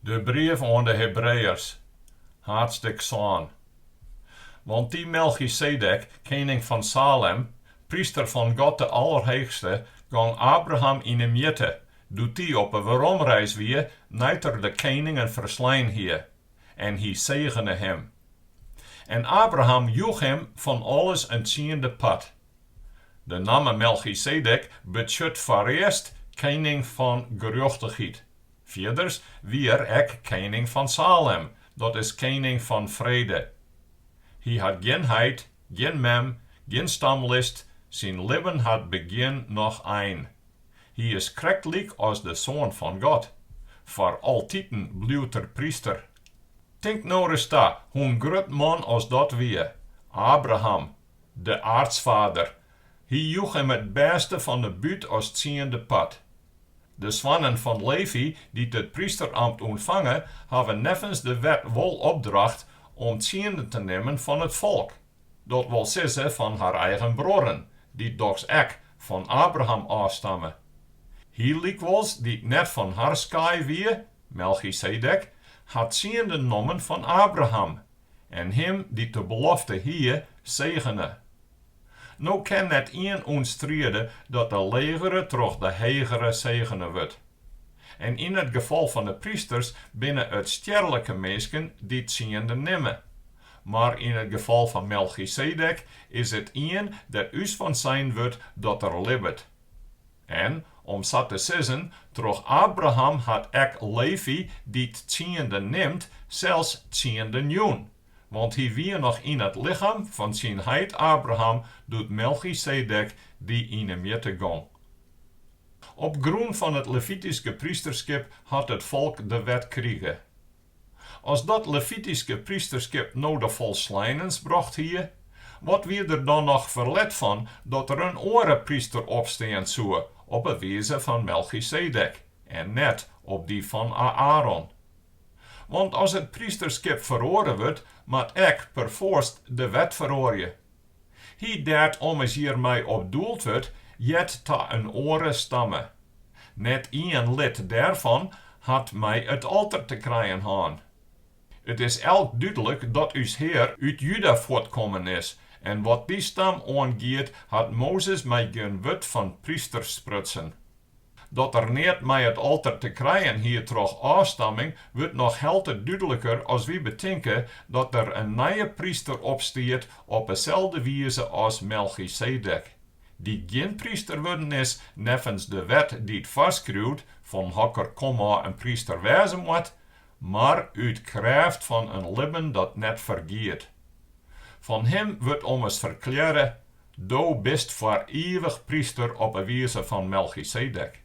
De brief oan de Hebreeërs, haadsttik sân. Want dy Melchisedek, kening fan Salem, pryster fan God de Alderheechste, gong Abraham yn 'e mjitte, doe't dy op 'e weromreis wie nei't er de keningen ferslein hie, en hy segene him. En Abraham joech him fan alles in tsiende part. De namme Melchisedek betsjut foarearst kening fan gerjochtichheid. Fierders wie er ek kening fan Salem, dat is kening fan frede. Hy hat gjin heit, gjin mem, gjin stamlist, syn libben hat begjin noch ein. Hy is krekt lyk as de Soan fan God. Foar altiten bliuwt er pryster. Tink no ris ta, hoe in grut man as dat wie, Abraham, de aartsfader. Hy joech him it bêste fan 'e bút as tsiende part. De soannen fan Levi dy't it prysteramt ûntfange, hawwe neffens de wet wol opdracht om tsienden te nimmen fan it folk, dat wol sizze fan har eigen bruorren, dy't dochs ek fan Abraham ôfstamme. Hy lykwols, dy't net fan har skaai wie, Melchisedek, hat tsienden nommen fan Abraham. en him dy't de belofte hie, segene. No kin net ien ûntstriede dat de legere troch de hegere segene wurdt. En yn it gefal fan de prysters binne it stjerlike minsken dy't tsiende nimme, mar yn it gefal fan Melchisedek is it ien dêr ús fan sein wurdt dat er libbet. En, om sa te sizzen, troch Abraham hat ek Levi dy't tsiende nimt sels tsienden jûn, want hy wie noch yn it lichem fan syn heit Abraham doe't Melchisedek dy yn 'e mjitte gong. Op grûn fan it levityske prysterskip hat it folk de wet krige. As dat levityske prysterskip no de folsleinens brocht hie, wat wie der dan noch ferlet fan dat der in oare pryster opstean soe op 'e wize fan Melchisedek en net op dy fan Aäron? Want as it prysterskip feroare wurdt, moat ek perfoarst de wet feroarje. Hy dêr't ommers hjir mei op doeld wurdt, heart ta in oare stamme. Net ien lid dêrfan hat mei it alter te krijen hân. It is elk dúdlik dat ús Hear út Juda fuortkommen is, en wat dy stam oangiet, hat Mozes mei gjin wurd fan prysters sprutsen. Dat er net mei it alter te krijen hie troch ôfstamming, wurdt noch helte dúdliker as wy betinke dat der in nije pryster opstiet op 'e selde wize as Melchisedek, dy't gjin pryster wurden is neffens de wet dy't foarskriuwt fan hokker komôf in pryster wêze moat, mar út krêft fan in libben dat net fergiet. Fan him wurdt ommers ferklearre, Do bist foar ivich pryster op 'e wize fan Melchisedek.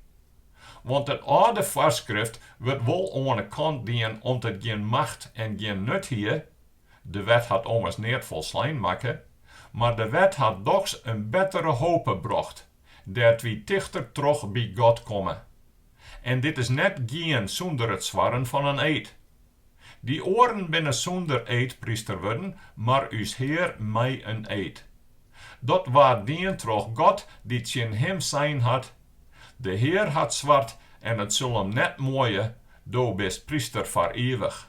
Want it âlde foarskrift wurdt wol oan 'e kant dien om't it gjin macht en gjin nut hie, de wet hat ommers neat folslein makke, mar de wet hat dochs in bettere hope brocht, dêr't wy tichter troch by God komme. En dit is net gien sûnder it swarren fan in eed. Dy oaren binne sûnder eed pryster wurden, mar ús Hear mei in eed. Dat waard dien troch God dy't tsjin him sein hat, De Hear hat sward en it sil him net muoie, Do bist pryster foar ivich.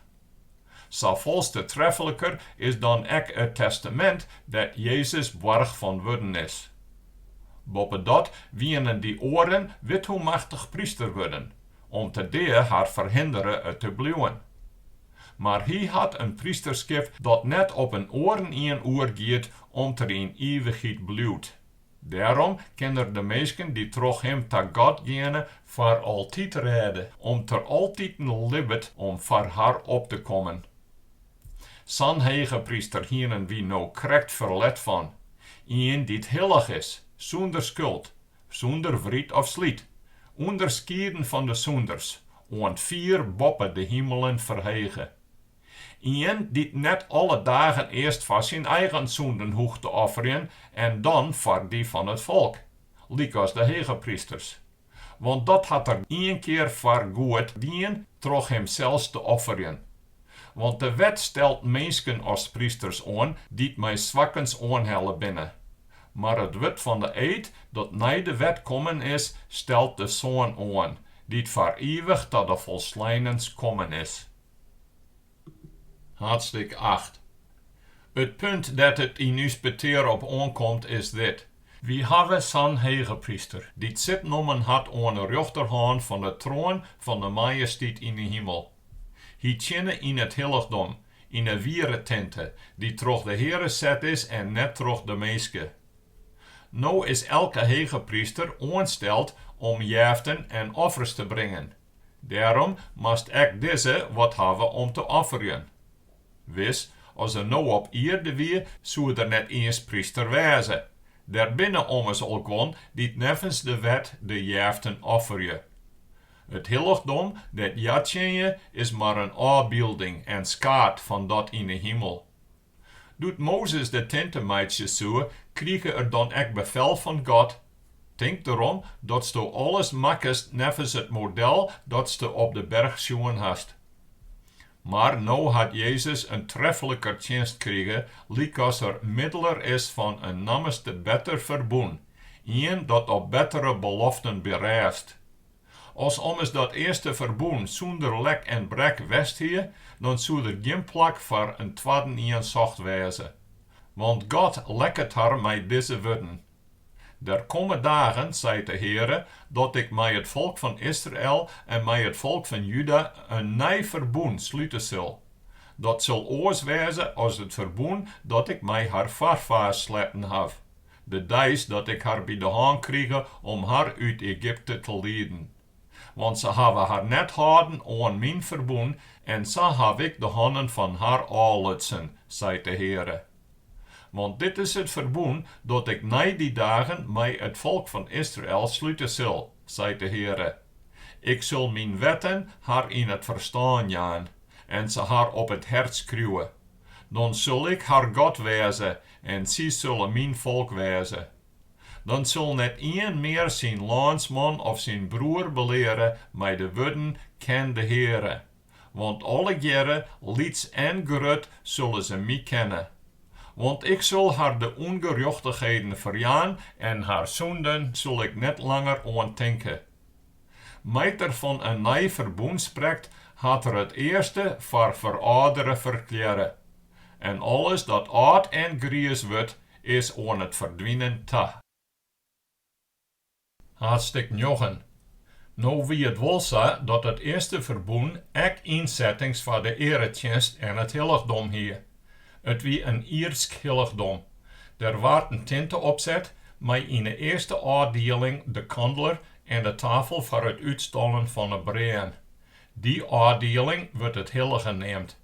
Safols te trefliker is dan ek it testamint dêr't Jezus boarch fan wurden is. Boppedat wiene dy oaren withoemachtich pryster wurden, om't de dea har ferhindere it te bliuwen. Mar hy hat in prysterskip dat net op in oarenien oergiet om't er yn ivichheid bliuwt. Dêrom kin er de minsken dy't troch him ta God geane foar altyd rêde, om't er altiten libbet om foar har op te kommen. Sa'n hegepryster hienen wy no krekt ferlet fan, ien dy't hillich is, sûnder skuld, Sûnder wryt of slyt. Underskieden fan de sûnders, oant fier boppe de himelen ferhege. Ien dy't net alle dagen earst foar syn eigen sûnden hoecht te offerjen en dan foar dy fan it folk, lykas de hegeprysters. Want dat hat er ien kear foar goed dien troch himsels te offerjen. Want de wet stelt minsken as prysters oan dy't mei swakkens oanhelle binne. Mar it wurd fan de eed dat nei de wet kommen is, stelt de Soan oan, dy't foar ivich ta de folsleinens kommen is. Haadstik acht. It punt dêr't it yn ús petear op oankomt, is dit, Wy hawwe sa'n hegepryster, dy't sit nommen hat oan 'e rjochterhân fan 'e troan fan 'e Majestiet yn 'e himel. Hy tsjinne yn it hillichdom, Yn 'e wiere tinte, dy't troch de Heare set is en net troch de minske. No is elke hegepryster oansteld om jeften en offers te bringen, dêrom moast ek dizze wat hawwe om te offerjen. Wis, as er no op ierde wie, soe er net iens pryster wêze, der binne ommers al guon dy't neffens de wet de jeften offerje. It hillichdom dêr't hja tsjinje is mar in ôfbylding en skaat fan dat yn 'e himel. Doe't Mozes de tinte meitsje soe, krige er dan ek befel fan God, Tink derom datsto alles makkest neffens it model datsto op de berch sjoen hast. Mar no hat Jezus in trefliker tsjinst krige, lykas er middeler is fan in nammeste better ferbûn, ien dat op bettere beloften berêst. As ommers dat earste ferbûn sûnder lek en brek west hie, dan soe der gjin plak foar in twadden ien socht wêze. Want God lekket har mei dizze wurden, Der komme dagen, seit de Heare, dat ik mei it folk fan Israel en mei it folk fan Juda in nij ferbûn slute sil, dat sil oars wêze as it ferbûn dat ik mei har foarfaars sletten haw, De deis dat ik har by de hân krige om har út Egypte te lieden. Want se hawwe har net hâlden oan myn ferbûn en sa haw ik de hannen fan har ôflutsen, seit de Heare. Want dit is it ferbûn dat ik nei dy dagen mei it folk fan Israel slute sil, seit de Heare, Ik sil myn wetten har yn it ferstân jaan en se har op it hert skriuwe. Dan sil Ik har God wêze en sy sille Myn folk wêze. Dan sil net ien mear syn lânsman of syn broer beleare mei de wurden, Ken de Heare, want allegearre, lyts en grut, sille se My kenne. Want Ik sil har de ûngerjochtichheden ferjaan en har sûnden sil Ik net langer oan tinke. Mei't er fan in nij ferbûn sprekt, hat er it earste foar ferâldere ferklearre, en alles dat âld en griis wurdt, is oan it ferdwinen ta. Haadstik njoggen. No wie it wol sa dat it earste ferbûn ek ynsettings foar de earetsjinst en it hillichdom hie. It wie in ierdsk hillichdom. Der waard in tinte opset mei yn 'e earste ôfdieling de kandler en de tafel foar it útstallen fan 'e brêen. Dy ôfdieling wurdt it hillige neamd.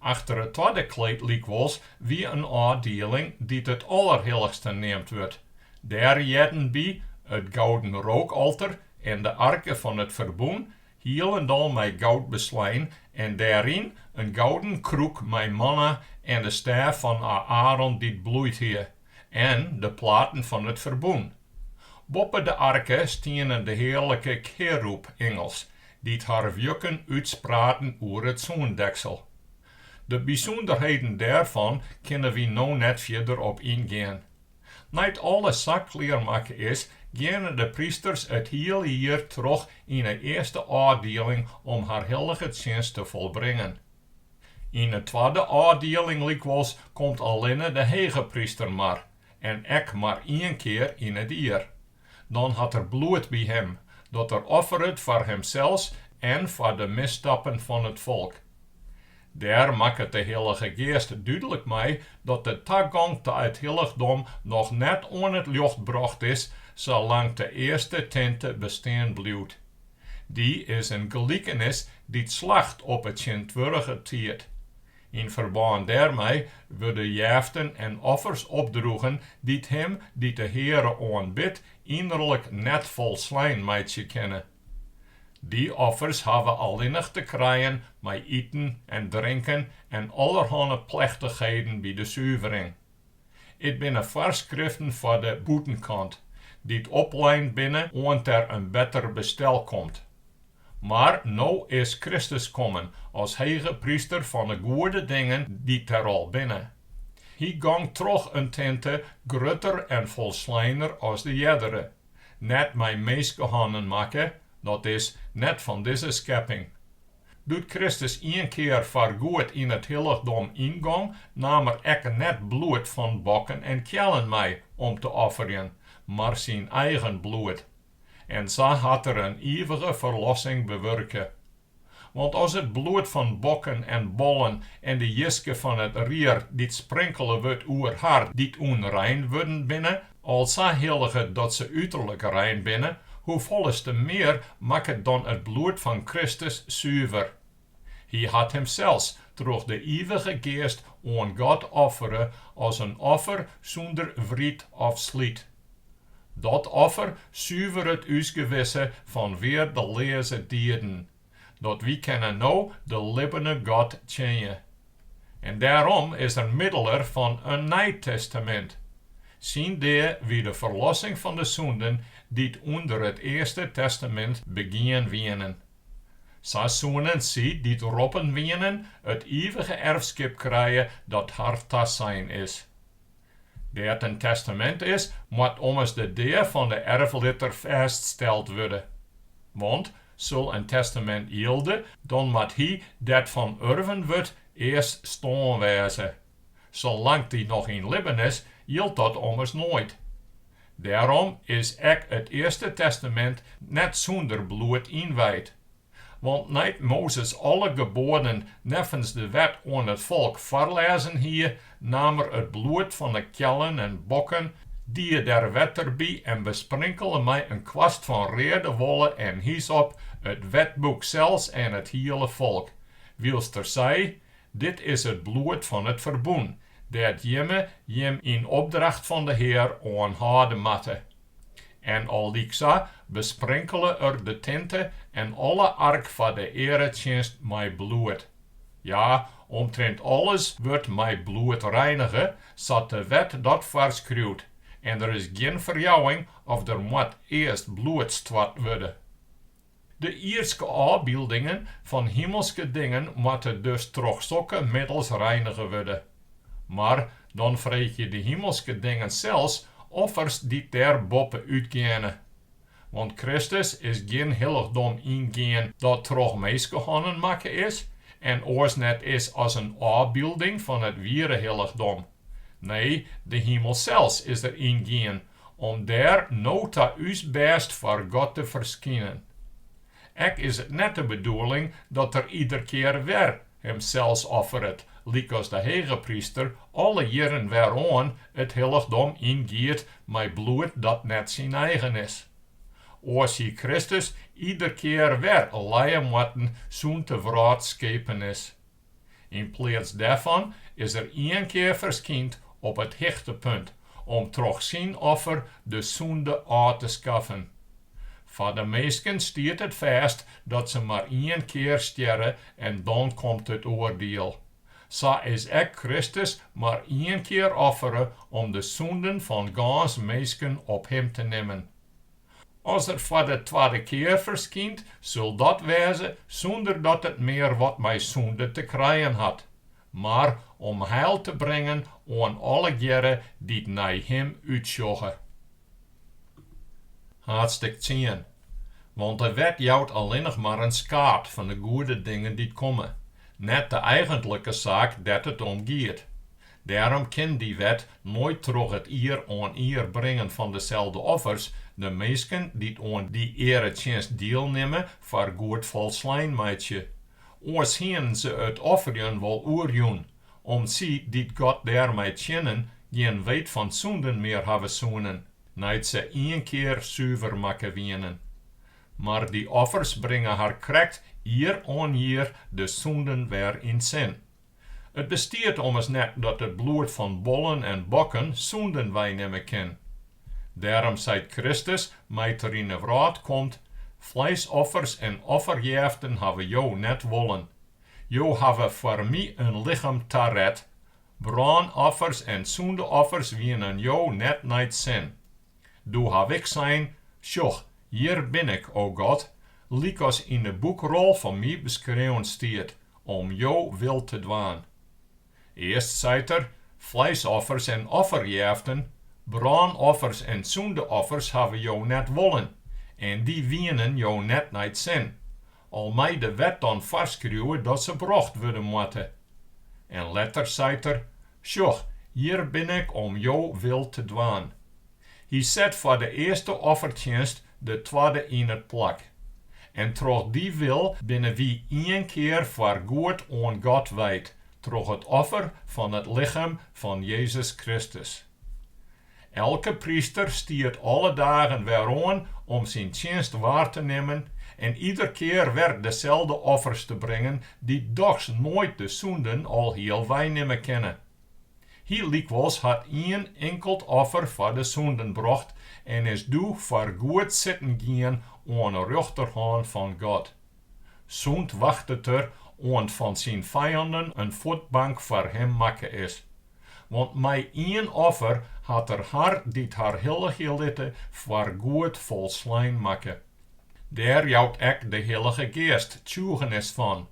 Achter it twadde kleed lykwols wie in ôfdieling dy't it Allerhillichste neamd wurdt. Dêr hearden by it gouden rookalter en de arke fan it ferbûn hielendal mei goud beslein, en dêryn in gouden krûk mei manna en de stêf fan Aäron dy't bloeid hie, en de platen fan it ferbûn. Boppe de arke stienen de hearlike kerûb-ingels, dy't har wjukken útspraten oer it soendeksel. De bysûnderheden dêrfan kinne wy no net fierder op yngean, Nei't alles sa klearmakke is, geane de prysters it hiele jier troch yn 'e earste ôfdieling om har hillige tsjinst te folbringen. Yn 'e twadde ôfdieling lykwols komt allinne de hegepryster mar, en ek mar ien kear yn it jier. Dan hat er bloed by him, dat er offeret foar himsels en foar de misstappen fan it folk. Dêr makket de Hillige Geast dúdlik mei dat de tagong ta it hillichdom noch net oan it ljocht brocht is salang't de earste tinte bestean bliuwt. Dy is in gelikenis dy't slacht op 'e tsjintwurdige tiid. Yn ferbân dêrmei wurde jeften en offers opdroegen dy't him dy't de Heare oanbidt ynnerlik net folslein meitsje kinne. Dy offers hawwe allinnich te krijen mei iten en drinken en allerhanne plechtichheden by de suvering. It binne foarskriften foar de bûtenkant dy't oplein binne oant der in better bestel komt. Mar no is Kristus kommen as hegepryster fan 'e goede dingen dy't der al binne. Hy gong troch in tinte grutter en folsleiner as de eardere, net mei minskehannen makke, dat is, net fan dizze skepping. Doe't Kristus ien kear foargoed yn it hillichdom yngong, naam er ek net bloed fan bokken en keallen mei om te offerjen, mar syn eigen bloed. En sa hat er in ivige ferlossing bewurke. Want as it bloed fan bokken en bollen en de jiske fan it rier dy't sprinkele wurdt oer har dy't ûnrein wurden binne, Al sa hilliget dat se uterlik rein binne, hoefolleste mear makket dan it bloed fan Kristus suver. Hy hat himsels troch de Ivige Geast oan God offere as in offer sûnder wryt of slyt. Dat offer suveret ús gewisse fan weardeleaze dieden, dat wy kinne no de libbene God tsjinje. En dêrom is er middeler fan in nij testamint. Syn dea wie de ferlossing fan de sûnden dy't ûnder it Earste Testamint begien wienen. Sa soenen sy dy't roppen wienen it ivige erfskip krije dat har tasein is. Dêr't in testamint is, moat ommers de dea fan de erflitter fêststeld wurde. Want sil in testamint jilde, dan moat hy dêr't fan urven wurdt earst stoarn wêze. Salang't dy noch yn libben is, jildt dat ommers noait. Dêrom is ek it Earste Testamint net sûnder bloed ynwijd. Want nei't Mozes alle geboaden neffens de wet oan it folk foarlêzen hie, naam er it bloed fan 'e keallen en bokken, die der wetter by en besprinkele mei in kwast fan reade wolle en hysop it wetboek sels en it hiele folk, wylst er sei, Dit is it bloed fan it ferbûn, dêr't jimme jim yn opdracht fan de Hear oan hâlde moatte. En allyksa besprinkele er de tinte en alle ark foar de earetsjinst mei bloed. Ja, omtrint alles wurdt mei bloed reinige, sa't de wet dat foarskriuwt, en der is gjin ferjouwing of der moat earst bloed stoart wurde. De ierdske ôfbyldingen fan himelske dingen moatte dus troch sokke middels reinige wurde. Mar dan freegje de himelske dingen sels offers dy't dêr boppe útgeane. Want Kristus is gjin hillichdom yngien dat troch minskehannen makke is en oars net is as in ôfbylding fan it wiere hillichdom. Nee, de himel sels is er yngien Om dêr no ta ús bêst foar God te ferskinen. Ek is it net de bedoeling dat Er ieder kear wer Himsels offeret, lykas de hegepryster alle jierren wer oan it hillichdom yngiet mei bloed dat net syn eigen is. Oars hie Kristus ieder kear wer lije moatten sûnt de wrâld skepen is. Yn pleats dêrfan is er ien kear ferskynd op it hichtepunt om troch syn offer de sûnde ôf te skaffen. Foar de minsken stiet it fêst dat se mar ien kear stjerre en dan komt it oardiel. Sa is ek Kristus mar ien kear offere om de sûnden fan gâns minsken op him te nimmen. As er foar de twadde kear ferskynt, sil dat wêze sûnder dat it mear wat mei sûnde te krijen hat, mar om heil te bringen oan allegearre dy't nei him útsjogge. Haadstik tsien. Want de wet jout allinnich mar in skaad fan de goede dingen dy't komme, net de eigentlike saak dêr't it om giet. Dêrom kin dy wet noait troch it jier oan jier bringen fan deselde offers de minsken dy't oan dy earetsjinst dielnimme foar goed folslein meitsje. Oars hienen se it offerjen wol oerjûn, om't sy dy't God dêrmei tsjinnen gjin weet fan sûnden mear hawwe soenen, nei't se ien kear suver makke wienen. Mar dy offers bringe har krekt jier oan jier de sûnden wer yn sin. It bestiet ommers net dat it bloed fan bollen en bokken sûnden weinimme kin. Dêrom seit Kristus, mei't Er yn 'e wrâld komt, fleisoffers en offerjêften hawwe Jo net wollen. Jo hawwe foar My in lichem taret. Brânoffers en sûndeoffers wienen Jo net nei 't sin. Doe haw Ik sein, Sjoch, hjir bin Ik, o God, lykas yn 'e boekrol fan My beskreaun stiet, om Jo wil te dwaan. Earst seit er, Fleisoffers en offerjêften, brânoffers en sûndeoffers hawwe Jo net wollen, en dy wienen Jo net nei 't sin, al mei de wet dan foarskriuwe dat se brocht wurde moatte. En letter seit er, Sjoch, hjir bin ik om Jo wil te dwaan. Hy set foar de earste offertsjinst de twadde yn it plak. En troch dy wil binne wy ien kear foar goed oan God wijd troch it offer fan it lichem fan Jezus Kristus. Elke pryster stiet alle dagen weroan om syn tsjinst waar te nimmen en ieder kear wer deselde offers te bringen dy't dochs noait de sûnden alhiel weinimme kinne. Hy lykwols hat ien inkeld offer foar de sûnden brocht en is doe foar goed sitten gien oan 'e rjochterhân fan God. Sûnt wachtet er oant fan syn fijanden in fuotbank foar him makke is. Want mei ien offer hat er har dy't har hilligje litte foar goed folslein makke. Dêr jout ek de Hillige Geast tsjûgenis fan,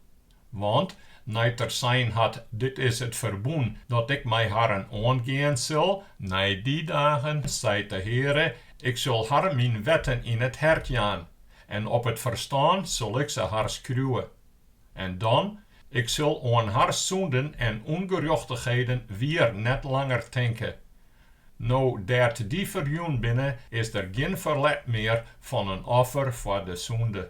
Want, nei't er sein hat, Dit is it ferbûn dat Ik mei harren oangean sil, nei dy dagen, seit de Heare, Ik sil har Myn wetten yn it hert jaan, en op it ferstân sil Ik se har skriuwe. En dan, Ik sil oan har sûnden en ûngerjochtichheden wier net langer tinke. No dêr't dy ferjûn binne, is der gjin ferlet mear fan in offer foar de sûnde.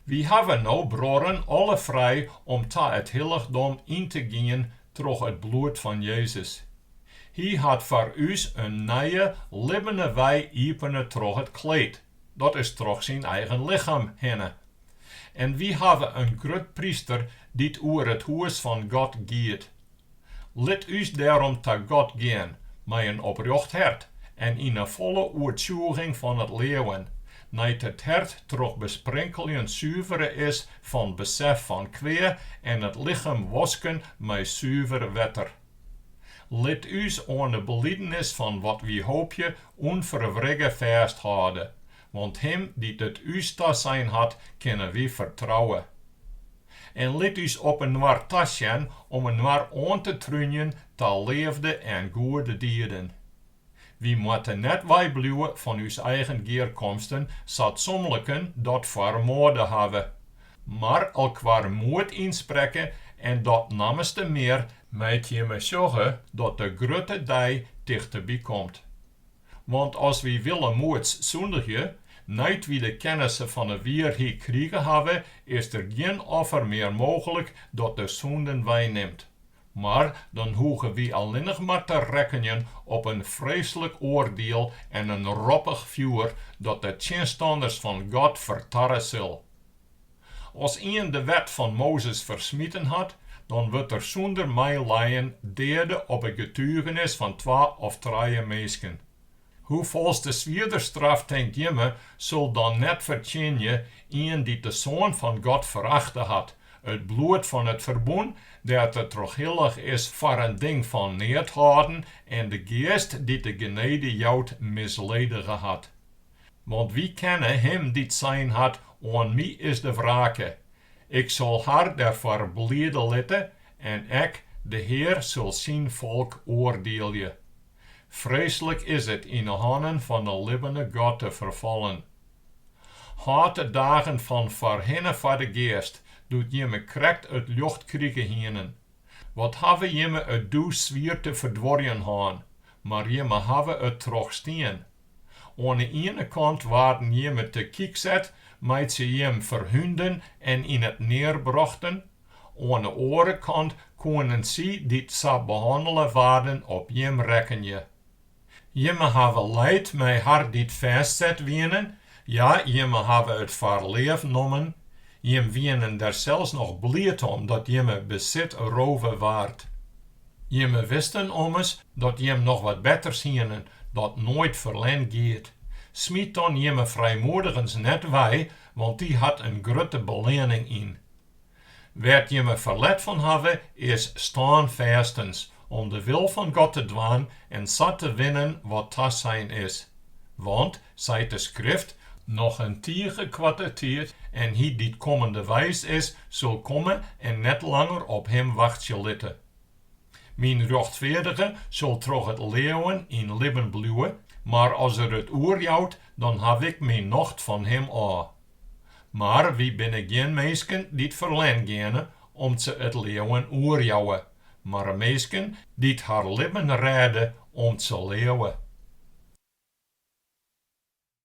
Wy hawwe no bruorren alle frij om ta it hillichdom yn te gean troch it bloed fan Jezus. Hy hat foar ús in nije, libbene wei iepene troch it kleed, dat is troch syn eigen lichem hinne. En wy hawwe in grutpryster dy't oer it hûs fan God giet, Lit ús dêrom ta God gean mei in oprjocht hert en yn 'e folle oertsjûging fan it leauwen, nei't it hert troch besprinkeljen suvere is fan besef fan kwea en it lichem wosken mei suver wetter. Lit ús oan 'e belidenis fan wat wy hoopje ûnferwrigge fêsthâlde, Want Him dy't it ús tasein hat, kinne wy fertrouwe. En lit ús op inoar tasjen om inoar oan te trúnjen ta leafde en goede dieden. Wy moatte net weibliuwe fan ús eigen gearkomsten, sa't somliken dat foar moade hawwe, mar elkoar moed ynsprekke en dat nammenste mear, mei't jimme sjogge dat de grutte dei tichteby komt. Want as wy willemoeds sûndigje, nei't wy de kennisse fan 'e wierheid krige hawwe, is der gjin offer mear mooglik dat de sûnden weinimt. Mar dan hoege wy allinnich mar te rekkenjen op in freeslik oardiel en in roppich fjoer dat de tsjinstanners fan God fertarre sil. As ien de wet fan Mozes fersmiten hat, dan wurdt der sûnder meileien deade op it getugenis fan twa of trije minsken. Hoefols te swierder straf tinkt jim sil dan net fertsjinje ien dy't de Soan fan God ferachte hat, it bloed fan it ferbûn dêr't er troch hillige is foar in ding fan neat hâlden en de Geast dy't de genede jout misledige hat? Want wy kenne him dy't sein hat, Oan my is de wrake, ik sil har dêrfoar bliede litte, en ek de Hear sil syn folk oardielje. Freeslik is it yn 'e hannen fan 'e libbene God te ferfallen. Hâld de dagen fan foarhinne foar de geast, doe't jimme krekt it ljocht krige hienen. Wat hawwe jimme it doe swier te ferduorjen hân, mar jimme hawwe it trochstien. Oan 'e iene kant waarden jimme te kyk set mei't se jim ferhûnden en yn it near brochten, oan 'e oare kant koenen sy dy't sa behannele waarden op jim rekkenje. Jimme hawwe leid mei har dy't fêstset wienen, ja, jimme hawwe it foar leaf nommen, jim wienen der sels noch bliid om dat jimme besit rove waard. Jimme wisten ommers dat jim noch wat betters hienen dat noait ferlern giet. Smyt dan jimme frijmoedigens net wei, want dy hat in grutte beleanning yn. Wêr't jimme ferlet fan hawwe, is stânfêstens, om de wil fan God te dwaan en sa te winnen wat tasein is. Want, seit de Skrift, Noch in tige koarte tiid, en hy dy't kommende weis is, sil komme en net langer op him wachtsje litte. Myn rjochtfeardige sil troch it leauwen yn libben bliuwe, mar as er it oerjout, dan haw ik myn nocht fan him ôf. Mar wy binne gjin minsken dy't ferlern geane om't se it leauwen oerjouwe, mar minsken dy't har libben rêde om't se leauwe.